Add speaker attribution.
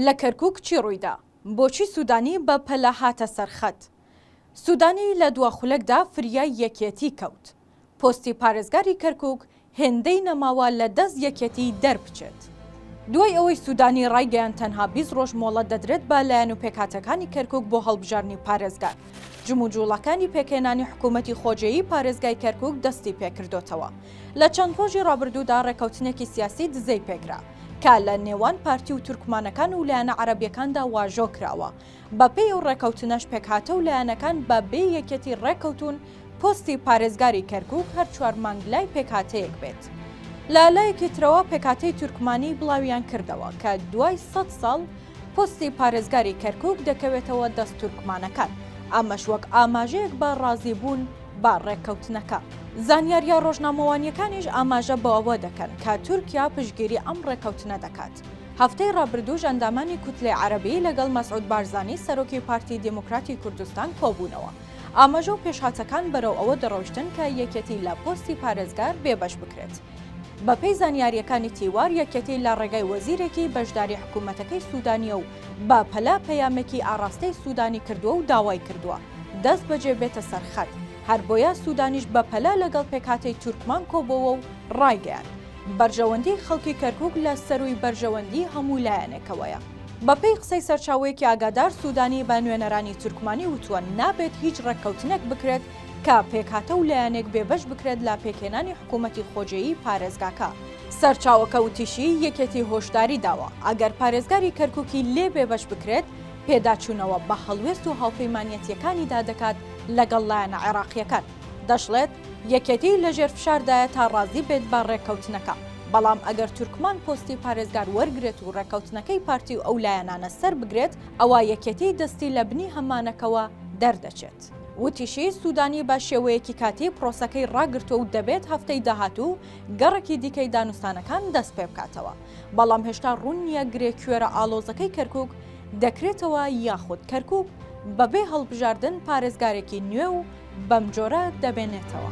Speaker 1: لە کەرکوک چی ڕوویدا؟ بۆچی سودانی بە پەلە هاتە سەر خەت؟ سودانی لە دوا خولەکدا فریای یەکێتی کەوت. پۆستی پارێزگاری کەرکوک هێندەی نەماوە لە دەست یەکێتی دەربچێت. دوای ئەوەی سودانی ڕایگەیاند تەنها بیست ڕۆژ مۆڵەت دەدرێت بە لایەن و پێکهاتەکانی کەرکوک بۆ هەڵبژاردنی پارێزگار، جموجوڵەکانی پێکهێنانی حکوومەتی خۆجێیی پارێزگای کەرکوک دەستی پێکردۆتەوە. لە چەند ڕۆژی ڕابردوودا ڕێککەوتنێکی سیاسی دزەی پێکرا. کە لە نێوان پارتی و تورکمانەکان و لایەنە عەرەبیەکاندا واژۆ کراوە بە پێی و ڕێکەوتنەش پێکهاتە و لایەنەکان بە بێ یەکەتی ڕێکەوتون پۆستی پارێزگاری کەرکک هەر چوار مانگ لای پێکهاتەیەک بێت. لە لایەکی ترەوە پێکاتەی تورکمانی بڵاویان کردەوە کە دوای سەد ساڵ پۆستی پارێزگاری کەرکک دەکەوێتەوە دەست تورکمانەکان ئەمەش وەک ئاماژەیەک بە ڕازیبوون بە ڕێککەوتنەکە. زانیارییە ڕۆژنامەوانییەکانیش ئاماژە بۆ ئەوە دەکەن کە تورکیا پشتگیری ئەم ڕێککەوتنە دەکات. هەفتەی ڕابردووش ئەندامانی کوتلەی عەرەبی لەگەڵ مەسعود بارزانی سەرۆکی پارتی دێموکراتی کوردستان کۆبوونەوە. ئاماژە و پێشهاتەکان بەرەو ئەوە دەڕۆیشتن کە یەکێتی لە پۆستی پارێزگار بێبەش بکرێت. بەپێی زانیارییەکانی تیوار یەکێتی لە ڕێگای وەزیرێکی بەشداری حکوومەتەکەی سوودانییە و بە پەلە پەیامێکی ئاڕاستەی سوودانی کردووە و داوای کردووە، دەست بەجێ بێتە سەر خەت، هەر بۆیە سوودانیش بە پەلە لەگەڵ پێکهاتەی تورکمان کۆبۆوە و ڕایگەیاند، بەرژەوەندیی خەڵکی کەرکووک لە سەرووی بەرژەوەندیی هەموو لایەنێکەوەیە. بەپێی قسەی سەرچاوەیەکی ئاگادار، سوودانی بە نوێنەرانی تورکمانی وتووە، نابێت هیچ ڕێککەوتنێک بکرێت کە پێکهاتە و لایەنێک بێبەش بکرێت لە پێکهێنانی حکوومەتی خۆجێیی پارێزگاکە. سەرچاوەکە وتیشی، یەکێتی هۆشداری داوە، ئەگەر پارێزگاری کەرکووکی لێ بێبەش بکرێت، پێداچوونەوە بە هەڵوێست و هاوپەیمانیەتییەکانیدا دەکات لەگەڵ لایەنە عێراقییەکان، دەشڵێت، یەکێتی لەژێر فشاردایە تا رازی بێت بە رێککەوتنەکە، بەڵام ئەگەر تورکمان پۆستی پارێزگار وەرگرێت و رێککەوتنەکەی پارتی و ئەو لایەنانە سەربگرێت، ئەوا یەکێتی دەستی لە بنی هەممانەکەوە دەردەچێت. وتیشی، سوودانی بە شێوەیەکی کاتی پرۆسەکەی راگرتووە و دەبێت هەفتەی داهاتوو گەڕێکی دیکەی دانوستانەکان دەستپێبکاتەوە. بەڵام هێشتا ڕوون نییە گرێ کوێرە ئالۆزەکەی کەرکک دەکرێتەوە یاخود کەرکک بەبێ هەڵبژاردن پارێزگارێکی نوێ و بەم جۆرە دەبێنێتەوە.